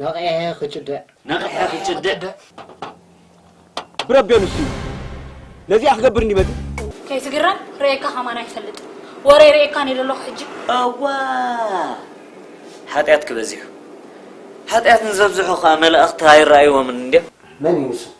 ነቒሔ ክጭድዕ! ነቒሔ ክጭድዕ! ብረቤኑ እሱ እዩ ነዚኣ ክገብር እንዲ መጺ ከይትግረም ርእየካ ከማን ኣይፈልጥን ወረይ ርእየካ ነይ ደለኹ ሕጂ እዋ ሓጢኣትኪ በዚሑ ሓጢኣት ንዘብዝሑ ከኣ መላእኽቲ ኣይረኣይዎምን እንድዮም። መን እዩ ንሱ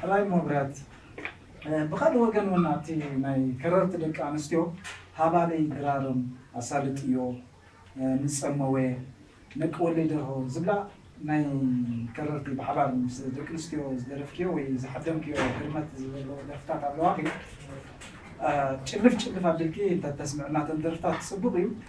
ሕራይ መብርያት ብካልእ ወገን ውን ኣብቲ ናይ ከረርቲ ደቂ ኣንስትዮ ሃባልይ ድራርም ኣሳልጥዮ ንጸመወ ነቂ ወልይ ደርሆ ዝብላ ናይ ከረርቲ ብሓባር ምስ ደቂ ኣንስትዮ ዝደረፍክዮ ወይ ዝሓደምክዮ ህርመት ዘለዎ ደርፍታት ኣለዋኺ ጭልፍ ጭልፍ ኣቢልኪ እንተተስምዕና ተን ደርፍታት ጽቡቅ እዩ።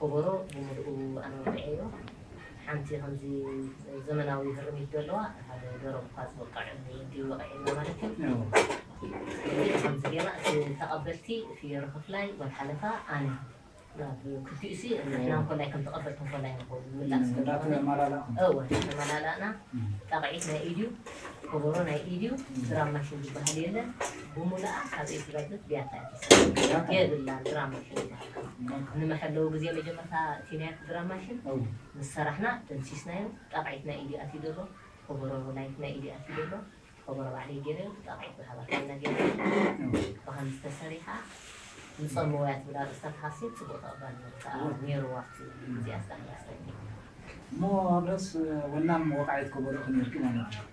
ኮቦሮ ብሙሉኡ ኣነ ወቂዐዮ ሓንቲ ከምዚ ዘመናዊ ህርሚት ዘለዋ ሓደ ደሮም እኳ ዝወቅዕ እንድዩ ወቂዕልና ማለት እዩ ከምዚ ገይርና እቲ ተቀበልቲ ፍዮሪ ክፍላይ ወድ ሓለፋ ኣነ ናብ ክልቲኡሲ ንሕና እንኮላይ ከም ተቀበልቲ እንኮላይ ንከውን ምላስ እናተመላላእኩም እወ እናተመላላእና ጣቅዒት ናይ ኢድዩ ኮቦሮ ናይ ኢድዩ ድራም ማሽን ዝበሃል የለን ብሙሉኣ ካብ ኢድ ትረግፍ ብያታ እያ ትሰርሕ የብላን ድራም ማሽን ዝበሃል ንመሐለዊ ግዜ መጀመርታ እቲ ናይ ዕድራ ማሽን ምስ ሰራሕና ደምሲስናዮ ጣቕዒት ናይ ኢዲ ኣትዩ ደሎ ኮቦሮ ላይት ናይ ኢዲ ኣትዩ ደሎ ኮቦሮ ባዕለይ ጌረዮ ጣቕዒት ብሃባካ ኢና ጌርናዮ ብኸምዚ ተሰሪሓ ንጸምወያ ትብል ኣርእስታ ተሃስየ ጽቡቕ ተቐባልነት ከኣ ኔርዋ ኣብቲ ግዜኣስ ዳሕራስ ናይ እሞ ኣብረስ ወናም ወቓዒት ኮቦሮ ኮኔርኪ ማለት ድዩ?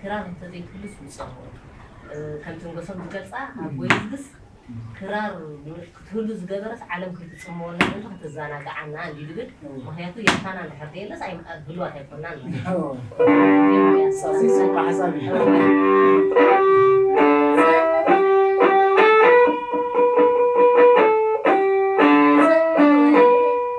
ክራር እንተዘይትህሉስ ውጻእ ከምትንገሶም ዝገልጻ ኣብ ጎይዝግስ ክራር ክትህሉ ዝገበረስ ዓለም ከይትጽመወና ምእንቲ ከተዘናግዓና እንዲ ድብል ምክንያቱ የርታና እንድሕር ደየለስ ኣብ ህልዋት ኣይኮናን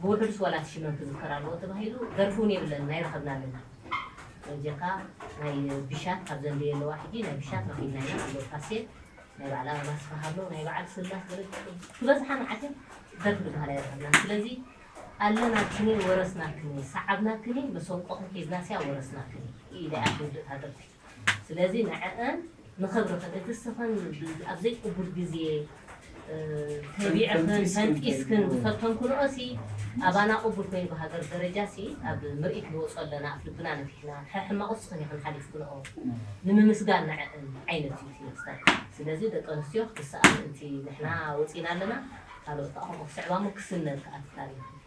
ብውሑድስ ዋላ እቲ ሽመን ክዝከር ኣለዎ ተባሂሉ ደርፊ ውን የብለንን ኣይረኸብናን እና በጀካ ናይ ብሻት ካብ ዘንድየ ኣለዋ ሕጂ ናይ ብሻት ረኺብና ኢና ኣሎ ካሴት ናይ በዓል ኣበባ ኣስፍሃ ኣሎ ናይ በዓል ስላስ ዝበዝሓ መዓልቲ ደርፊ ዝበሃል ኣይረኸብናን ስለዚ ኣለናክኒ ወረስናክኒ ሰዓብናክኒ መሰንቆኽን ሒዝናስያ ወረስናክኒ ኢለያ ትውድእታ ደርፊ ስለዚ ንዐኣን ንኽብርኽን እቲ እስኽን ኣብ ዘይቅቡል ግዜ ተቢዕኽን ፈንጢስክን ዝፈተንክንኦሲ ኣባና ቅቡል ኮይኑ ብሃገር ደረጃሲ ኣብ ምርኢት ንወጾ ኣለና ኣፍልብና ነፊሕና ሐሕማቅ እስኽን ኢኽን ሐሊፍክንኦ ንምምስጋን ንዐእን ዐይነት እዩ እቲ መስተር ስለዚ ደቂ ኣንስትዮ ክትስኣ ምእንቲ ንሕና ወጺና ኣለና ካልኦት ከኣ ከምኡ ክስዕባሞ ክስነድ ከኣ እቲ ታሪኽ እቲ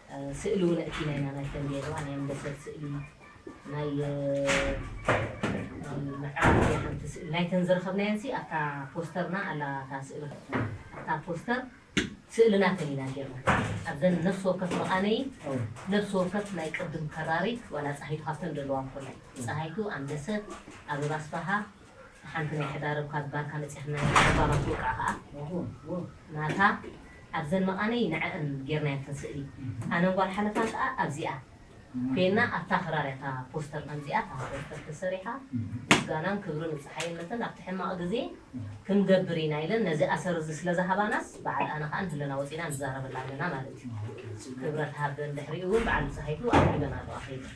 ስእሊ ውን ኣእቲና ኢና ናይ ተምቤንዋ ናይ ኣምበሰል ስእሊ ናይ ምዕራብ ናይ ሓንቲ ስእሊ ናይተን ዝረኸብናየን ሲ ኣብታ ፖስተርና ኣላ እታ ስእሊ ኣብታ ፖስተር ስእሊ ናተን ኢና ጌርና ኣብዘን ነፍሲ ወከፍ መቓነዪ ነፍሲ ወከፍ ናይ ቅድም ከራሪት ዋላ ጻሃይቱ ሃፍተን ደለዋ ኮላ ጻሃይቱ ኣምበሰል ኣበባ ኣስፋሃ ንሓንቲ ናይ ሕዳር እኳ ዝባርካ መጺኽና ኢና ጸባባት ውቃ ከኣ ናታ ኣብዘን መቃነይ ንዐኣን ጌርናየን እተን ስእሊ ኣነን ጓል ሓለፋን ከኣ ኣብዚኣ ኮይና ኣብታ ክራር እያ እታ ፖስተር ከምዚኣ እታ ፖስተር ተሰሪሓ ምስጋናን ክብርን ንጸሓየን መተን ኣብቲ ሕማቅ ግዜ ክንገብር ኢና ኢለን ነዚ ኣሰር እዚ ስለ ዝሃባናስ በዓል ኣነ ከኣ ንህለና ወጺና ንዛረበላ ኣለና ማለት እዩ ክብረት ሃበን ድሕሪኡ ውን በዓል ብጸሃይቱ ኣብ ህለና ኣለዋ ከይበል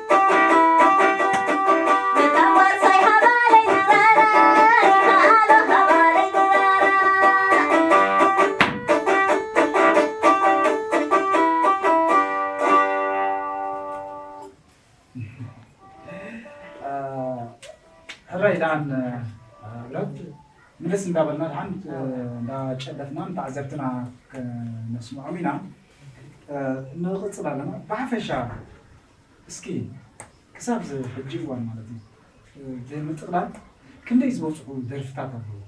ሕራይ ደኣን ብረት ምልስ እንዳበልና ደሓን እንዳጨለፍና ንተዓዘብትና ከነስምዖም ኢና ንቕፅል ኣለና ብሓፈሻ እስኪ ክሳብ እዚ ሕጂ እዋን ማለት እዩ ብምጥቕላል ክንደይ ዝበፅሑ ደርፍታት ኣለዎ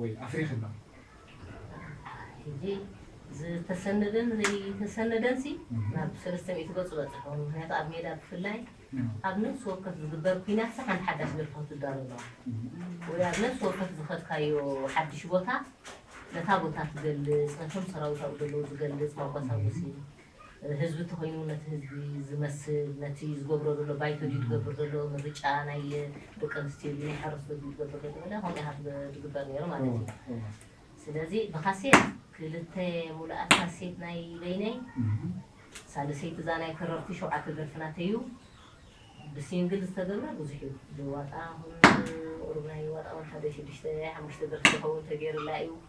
ወይ ኣፍሪኺ ኣሎ? ሕጂ ዝተሰነደን ዘይተሰነደን ሲ ናብ ሰለስተ ሚእቲ ገፁ በፂሑ። ምክንያቱ ኣብ ሜዳ ብፍላይ ኣብ ነፍሲ ወከፍ ዝግበር ኩናት ሲ ሓንቲ ሓዳሽ ደርፊ ክትዳሎ ኣለዋ ወይ ኣብ ነፍሲ ወከፍ ዝኸድካዮ ሓዱሽ ቦታ ነታ ቦታ ትገልፅ ነቶም ሰራዊት ኣብኡ ዘለዉ ዝገልፅ መጓሳጎሲ ህዝቢ ተኾይኑ ነቲ ህዝቢ ዝመስል ነቲ ዝገብሮ ዘሎ ባይቶ ድዩ ዝገብር ዘሎ ምርጫ ናይ ደቂ ኣንስትዮ ድዩ ናይ ሓረስቶት ድዩ ዝገብር ዘሎ መለ ከምኡ ኢኻ ትግበር ነይሩ ማለት እዩ ስለዚ ብካሴት ክልተ ሙሉኣት ካሴት ናይ በይነይ ሳልሰይቲ እዛ ናይ ከረርቲ ሸውዓተ ደርፊ ናተዩ ብሲንግል ዝተገብረ ብዙሕ እዩ ብዋጣ ቁሩብ ናይ ዋጣ ወንሓደ ሽዱሽተ ሓሙሽተ ደርፊ ዝኸውን ተገይሩላ እዩ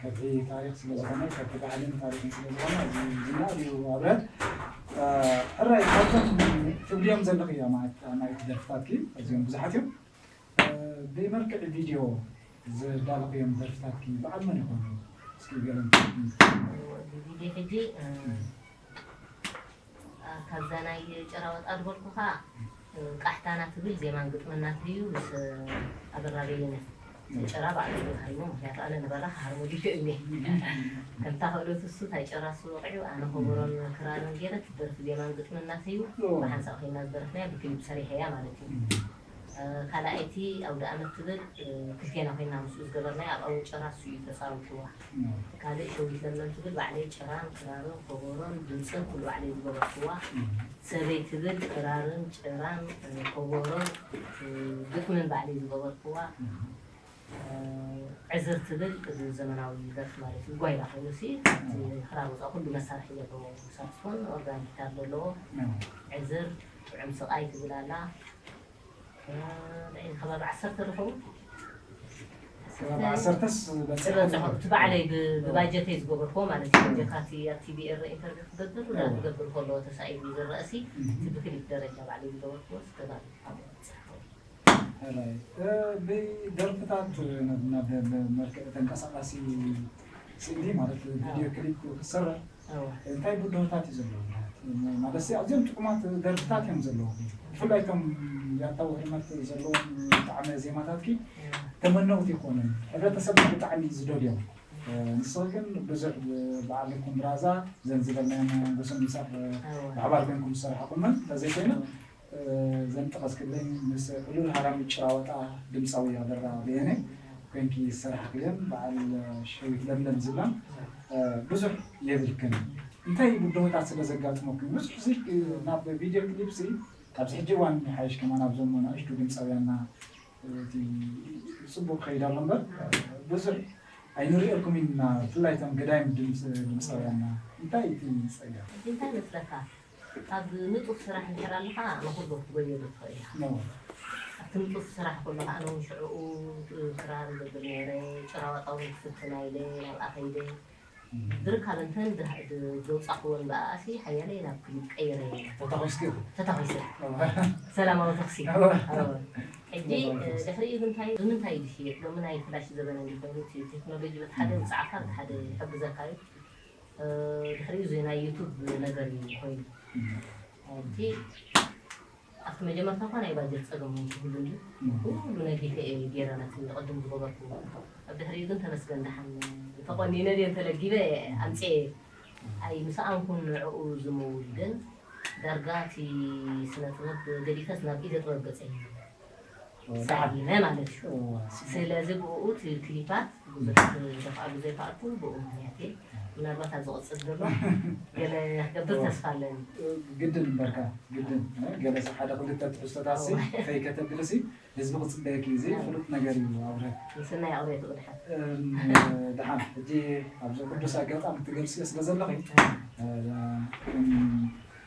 ከብሒ ታሪክ ስለ ዝኮነ ከብሒ ባህልን ታሪክን ስለ ዝኮነ እዚ ዝና እዩ ኣብረት ሕራይ ካብቶም ትብልዮም ዘለኺ እያ ማለት ናይቲ ደርፍታትኪ ኣዝዮም ብዙሓት እዮም ብመልክዕ ቪድዮ ዝዳለኽዮም ደርፍታትኪ በዓል መን ይኾኑ እስኪ ገለ ብቪድዮ ሕጂ ካብዛ ናይ ጭራወጣ ድበልኩኻ ቃሕታና ትብል ዜማን ግጥምን ናቱ እዩ ምስ ኣበራ በየነ ንጭራ ባዕሉ እዩ ሃሪሙ ምኽንያቱ ኣነ ንበራ ክሃርሞ ድልዮ እዩ እኒሀ ከምታ ክእለቱ እሱ ታይ ጭራ እሱ ወቂዑ ኣነ ኮቦሮን ክራርን ገይረ ትደርፍ ዜማን ግጥምን ናተይ እዩ ብሓንሳእ ኮይና ዝደረፍናያ ብክሊፕ ሰሪሐያ ማለት እዩ ካልኣይቲ ኣውደኣመት ትብል ክልቴና ኮይና ምስኡ ዝገበርናያ ኣብ ኣወ ጭራ ንሱ'ዩ ተጻዊትዋ። ካልእ ሸዊት ለምለም ትብል ባዕለይ ጭራን ክራርን ኮቦሮን ድምጽን ኩሉ ባዕለይ ዝገበርኩዋ። ሰበይ ትብል ክራርን ጭራን ኮቦሮን ግጥምን ባዕለይ ዝገበርኩዋ። ዕዝር ትብል እዚ ዘመናዊ ደርፊ ማለት እዩ ጓይላ ኮይኑ ሲ ካብቲ ክራር ወፃኢ ኩሉ መሳርሒ ዘለዎ ሳክስፎን ኦርጋን ጊታር ዘለዎ ዕዝር ጥዑም ስቃይ ትብል ኣላ ናይ ከባቢ ዓሰርተ ዝኸውን ከባቢ ዓሰርተስ በፂሖም ዝበፅሑ እቲ ባዕለይ ብ- ብባጀተይ ዝገበርክዎ ማለት እዩ ጀካ እቲ ኣብ ቲቪ ኤረ ኢንተርቪው ክገብር እወ። ክገብር ከለዎ ተሳኢሉ ዝረአ ሲ እቲ ብክሊፕ ደረጃ ባዕለይ ዝገበርክዎስ ከባቢ ኣብኡ በፂሑ ብደርፍታት ናብ መልክዕ ተንቀሳቃሲ ስእሊ ማለት ቪድዮ ክሊፕ ክሰርሕ እንታይ ብድሆታት እዩ ዘለዎ? ማለት ኣዝዮም ጥዑማት ደርፍታት እዮም ዘለዎ ብፍላይ እቶም ያታ ውሕልመት ዘለዎም ጣዕመ ዜማታትኪ ተመነውቲ ይኮኑን ሕብረተሰብና ብጣዕሚ እዩ ዝደልዮ ንስኺ ግን ብዙሕ በዓል ልኩም ብራዛ ዘን ዝበልናየን ጎሰን ምሳኽ ብሓባር ኮይንኩም ዝሰራሕኹመን ተዘይኮይነን እዘን ጠቐስክለን ምስ ዕሉል ሃራሚ ጭራዋጣ ድምጻዊ ኣበራ በየነ ኮይንኪ ዝሰራሕኽየን በዓል ሸዊት ለምለም ዝብላ ብዙሕ የብልክን እንታይ ብድሆታት ስለ ዘጋጥመኩም ብዙሕ እዚ ናብ ቪድዮ ክሊፕሲ ኣብዚ ሕጂ እዋን ይሓይሽ ከማን ኣብዞም ንኣሽቱ ድምጻውያንና እቲ ጽቡቕ ክኸይድ ኣሎ እምበር ብዙሕ ኣይንርእየልኩምን ኢና ብፍላይ እቶም ገዳይም ድምጻውያንና እንታይ እቲ ጸገም? ሕጂ እንታይ መስለካ ኣብ ንጡፍ ስራሕ እንድሕር ኣለኻ ንኹሉ ክትጎየሉ ትኽእል ኢኻ። ኣብቲ ንጡፍ ስራሕ ከሎ ከኣ ነውን ሽዕኡ ክራር እገብር ነይረ፣ ጭራዋጣ እውን ክፍትን ኣይለ ናብኣ ከይደ። ብርካብ እንተን ዘውጻኹወን ብኣኣሲ ሓያለይ ናብ ክሊፕ ቀይረየን እየ። ተታኺስኪ? ተታኺሰ። ሰላማዊ ተኹሲ። ሕጂ ድሕሪኡ ግን እንታይ ብምንታይ እዩ ዝሽየጥ? ሎሚ ናይ ፍላሽ ዘበን እንድዩ ኮይኑ እቲ ቴክኖሎጂ በቲ ሓደ የውጽዓካ በቲ ሓደ ይሕግዘካ እዩ። ድሕሪኡ እዚ ናይ ዩቱብ ነገር እዩ ኮይኑ እቲ ኣብቲ መጀመርታ እኳ ናይ ባጀት ፀገም እውን ክህሉ እንድዩ ኩሉ ነጊፈ እየ ገይረ ነቲ ቅድም ዝገበርክዎ ኣብ ድሕሪኡ ግን ተመስገን ደሓን ተቖኒነ ድየ ተለጊበ ኣምፅየ ኣይምሰኣንኩን ንዕኡ ዝምውል ግን ዳርጋ እቲ ስነ ጥበብ ገዲፈስ ናብ ኢደ ጥበብ ገፀይ ዝዓብለመ ማለት እዩ ስለዚ ብኡኡ እቲ ክሊፓት ብዙሕ ዘፋኣሉ ዘይፋኣልኩ ብኡ ምክንያት እየ ምናልባት ኣብ ዝቕፅል ድማ ገለ ክገብር ተስፋ ኣለኒ ግድን እምበርካ ግድን ገለ ሓደ ክልተ ትሕዝቶታት ሲ ከይከተብሊ ሲ ህዝቢ ክፅበየኪ እዩ እዚ ፍሉጥ ነገር እዩ ኣብረ ምስናይ ኣቕርየቱ ብድሓን ድሓን ሕጂ ኣብዚ ቅዱስ ኣጋጣሚ ትገልፅዮ ስለ ዘለኺ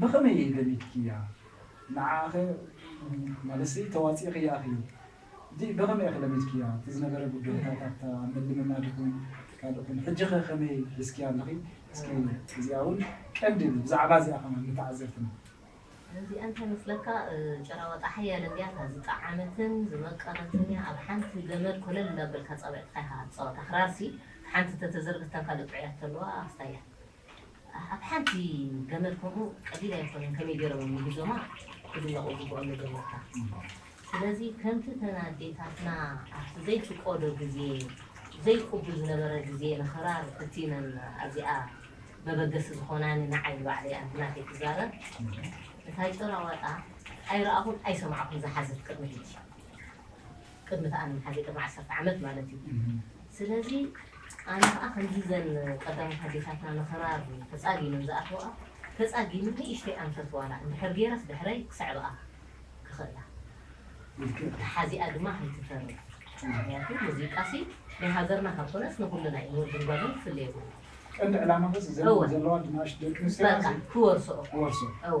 ብኸመይ እየ ገሚትክያ ንዓኣኸ ማለትሰ ተዋጺእኽያ እኺ ዲእ ብኸመይ እኺ ለሚድክያ እቲ ዝነበረ ጉዳይታት ኣብታ ኣብ ምልምናድ ይኹን ካልእ ይኹን ሕጂኸ ከመይ ሒዝክያ ኣለኺ እስኪ እዚኣ ውን ቀንዲ እብ ብዛዕባ እዚኣ ከማን ንተዓዘብትና እዚኣ እንታይ መስለካ ጭራዋጣ ሓያል እንድያ እታ ዝጠዓመትን ዝመቀረትን እያ ኣብ ሓንቲ ገመድ ኮለል እንዳበልካ ኣጻብዕትኻ ኢኻ ትጻወታ ክራርሲ እታ ሓንቲ ተተዘርግት እታ ካልእ ጥዑያት ተለዋ ኣስታያ ኣብ ሓንቲ ገመድ ከምኡ ቀሊል ኣይኮነን ከመይ ጌሮም እዮም ንጉዞማ ክድነቁ ይግብኦም መጀመርታ ስለዚ ከምቲ እተን ኣዴታትና ኣብቲ ዘይፍቆዶ ግዜ ዘይቁቡል ዝነበረ ግዜ ንክራር እቲነን ኣዚኣ መበገሲ ዝኮናኒ ንዓይ ንባዕለይ ኣነ ብናተይ ክዛረብ እታ ጭራ ዋጣ ኣይረኣኩን ኣይሰማዕኩን ዝሓዘት ቅድሚ ሕጂ ቅድሚ ተኣን ሐዚ ቅድሚ ዓሰርተ ዓመት ማለት እዩ ስለዚ ኣነ ከኣ ከምዚ እዘን ቀዳሞት ኣዴታትና ንክራር ተጻጊመን ዝኣተወኣ ተጻጊመ ንእሽተይ ኣንፈት ዋላ እንድሕር ጌረስ ድሕረይ ክስዕበኣ ክኽእላ ተሓዚኣ ድማ ከይትተርፍ ምክንያቱ ሙዚቃሲ ናይ ሃገርና ካብ ኮነስ ንኩልና እዩ ንወድን ጓልን ክፍለ የብሉን ቀንዲ ዕላማ በስ እዘን ዘለዋ ድናሽ ደቂ ኣንስትዮ በቃ ክወርሶኦ ክወርሶ እወ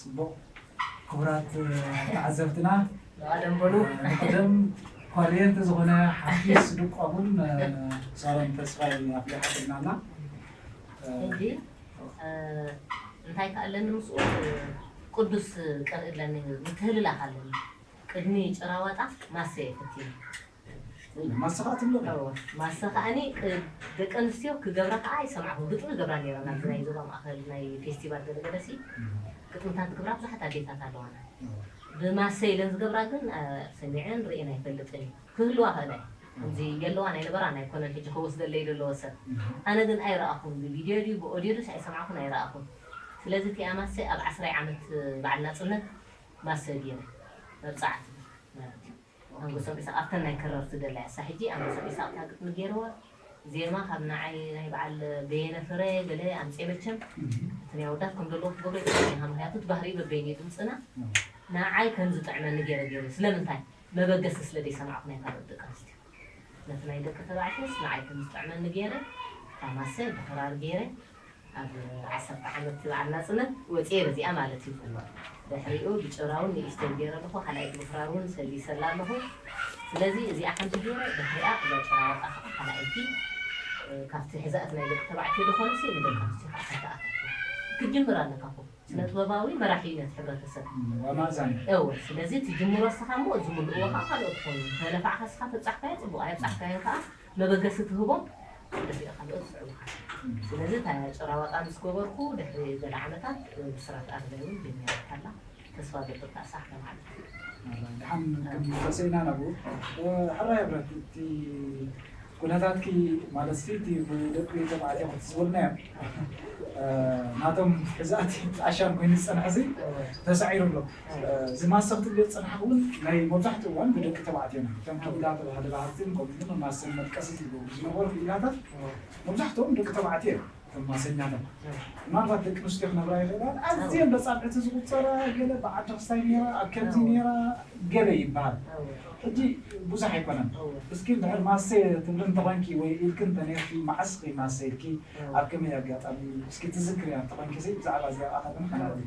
ፅቡቕ ክቡራት ተዓዘብትና ብቐደም በሉ ብቐደም ኮሬንቲ ዝኾነ ሓፊስ ድቋሙን ሳሮን ተስፋይ ኣፍሊሓትና ኣላ ሕጂ እንታይ ከ ኣለኒ ምስኡ ቅዱስ ቀርኢ ኣለኒ ምትህልላኽ ኣለኒ ቅድሚ ጭራዋጣ ማሰ የፍትዩ። ወይኒ ማሰ ከኣ ትብሎ ኣላ። እወ ማሰ ከኣኒ ደቂ ኣንስትዮ ክገብራ ከኣ ይሰምዓኩ ግጥሚ ይገብራ ኔረን ኣብዚ ናይ ዞባ ማእከል ናይ ፌስቲቫል ገለ ገለ ሲ ግጥምታት ዝገብራ ብዙሓት ኣዴታት ኣለዋና ብማሰ ኢለን ዝገብራ ግን ሰሚዐን ርእየን ኣይፈልጥን ኢየ ክህልዋ ይክእላ ኢየን ከምዚ የለዋን ኣይነበራን ኣይኮነን ሕጂ ከወስደለይ ደለወ ሰብ ኣነ ግን ኣይረኣኩን ብቪድዮ ድዩ ብኦድዮ ድዩስ ኣይሰማዕኩን ኣይረኣኩን ስለዚ እቲኣ ማሰ ኣብ ዓስራይ ዓመት በዓል ናጽነት ማሰጊር መብጻዕቲ ማለት እዩ ኣንጎሶም ኢሳቅ ኣብተን ናይ ክረር ትደሊ ኣሳ ሕጂ ኣንጎሶም ኢሳቅ እታ ግጥሚ ጌርዋ ዜማ ካብ ንዓይ ናይ በዓል በየነ ፍረ ገለ ኣምጼ መቸም እቲ ናይ ኣወዳት ከም ደለዎ ክገብሮ ይጽዕም ኢኻ ምክንያቱ እቲ ባህሪኡ በበይኑ ድምጽና ንዓይ ከም ዝጥዕመኒ ጌረ ጌርዮ ስለምንታይ መበገሲ ስለ ደይሰማዕኩ ናይ ካልኦት ደቂ ኣንስትዮ ነቲ ናይ ደቂ ተባዕትዮስ ንዓይ ከም ዝጥዕመኒ ገይረ እታ ማሰ ብክራር ገይረ ኣብ ዓሰርተ ዓመት በዓል ናጽነት ወጺኤ በዚኣ ማለት እዩ ድሕሪኡ ብጭራ ውን ንእሽተይ ገይረ ኣለኹ ካልኣይቲ ብክራር ውን ሰጊሰላ ኣለኹ ስለዚ እዚኣ ሓንቲ ገይረ ድሕሪኣ እዛ ጭራ ዋጣ ከኣ ካልኣይቲ ካብቲ ሕዛእቲ ናይ ደቂ ተባዕትዮ ዶ ኮነሲ ንደቂ ኣንስትዮ ከኣ ሓንቲ ኣታትዋ ክትጅምር ኣለካ እኮ ስነጥበባዊ መራሒ እዩ ነቲ ሕብረተሰብ። ዋና ዛንታ። እወ ስለዚ ትጅምሮ እስኻ እሞ ዝምልእዎ ከኣ ካልኦት ክኾኑ እዮም እንተለፋዕካ እስኻ ተብጻሕካዮ ጽቡቕ ኣየብጻሕካዮን ከኣ መበገሲ ትህቦ እዚኦ ካልኦት ይስዕቡኻ እዮም ስለዚ እታ ጭራዋጣ ምስ ገበርኩ ድሕሪ ገለ ዓመታት ብስራት ኣርበይ ውን ጀሚራታ ኣላ ተስፋ ገጥር ከኣ ሳሕ ከማዕድልኪ እዩ። ድሓን ክንመለሰ ኢና ናብኡ። ሕራይ ሕብረት እቲ። ኩነታትኪ ማለት ሲ እቲ ብደቂ ተባዕትዮ ክትስውርናዮ ናቶም ሕዛእቲ ኣሻን ኮይኑ ዝጸንሐ ሲ ተሳዒሩ ኣሎ እዚ ማሰ ክትብልዮ ዝጸናሕኪ ውን ናይ መብዛሕትኡ እዋን ብደቂ ተባዕትዮና እቶም ከቢላ ተባሃሊ ባህርቲን ከምኡ ውን ማሰን መድቀሲ ትብልዎም ዝነበርኩ ኢላታት መብዛሕትኦም ደቂ ተባዕትዮ እዮም። እተን ማሰኛታት ምናልባት ደቂ ኣንስትዮ ክነብራ ይኽእላ፣ ኣዝየን በጻብዕቲ ዝቑጸራ ገለ ብዓዲ ክስታይ ነይራ፣ ኣብ ከምዚ ነይራ ገለ ይበሃል። ሕጂ ብዙሕ ኣይኮነን። እስኪ እንድሕር ማሰ ትብሊ እንተኾይንኪ ወይ ኢልኪ እንተኔርኪ መዓስ ኢኺ ማሰ ኢልኪ፣ ኣብ ከመይ ኣጋጣሚ፣ እስኪ ትዝክርያ እንተኾይንኪ ብዛዕባ እዚኣ ከኣ ከነዕልል።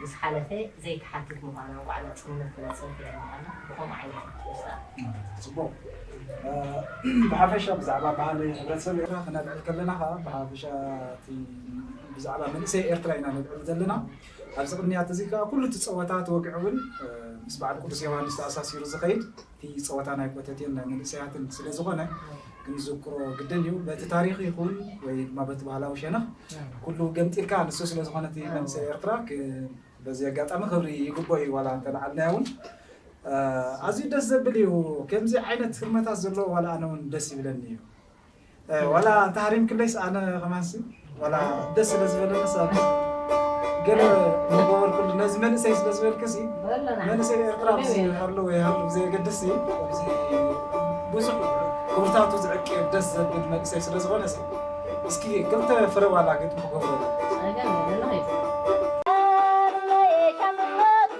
ምስ ሓለፈ ዘይትሓትት ምዃና ባዕላ ጽልምት ትብል ጽርፍያ ምዃና ብኸምኡ ዓይነት ኢኻ ትወስዳ። ጽቡቕ። ብሓፈሻ ብዛዕባ ባህሊ ሕብረተሰብ ኤርትራ ክነልዕል ከለና ከኣ ብሓፈሻ እቲ ብዛዕባ መንእሰይ ኤርትራ ኢና ነልዕል ዘለና። ኣብዚ ቅንያት እዚ ከኣ ኩሉ እቲ ጸወታ እቲ ወግዒ እውን ምስ በዓል ቅዱስ ዮውሃንስ ተኣሳሲሩ ዝኸይድ እቲ ፀወታ ናይ ኮተቴን ናይ መንእሰያትን ስለ ዝኾነ ክንዝክሮ ግድን እዩ። በቲ ታሪኽ ይኹን ወይ ድማ በቲ ባህላዊ ሸነኽ ኩሉ ገምጢልካ ንሱ ስለ ዝኾነ እቲ መንእሰይ ኤርትራ በዚ ኣጋጣሚ ክብሪ ይግብኦ እዩ ዋላ እንተልዓልናዮ እውን ኣዝዩ ደስ ዘብል እዩ። ከምዚ ዓይነት ህርመታት ዘለዎ ዋላ ኣነ እውን ደስ ይብለኒ እዩ። ዋላ እንተሃሪምክለይስ ኣነ ከማንሲ ዋላ ደስ ስለ ዝበለኒ ሰብ ገለ ንገበርኩሉ ነዚ መንእሰይ ስለ ዝበልክሲ መንእሰይ ኤርትራ ብዝሃሉ ወይሃሉ ብዘየገድስ ብዙሕ ክብርታቱ ዝዕቂ ደስ ዘብል መንእሰይ ስለ ዝኾነ እስኪ ክልተ ፍረ ዋላ ግጥሚ ክገብረሉ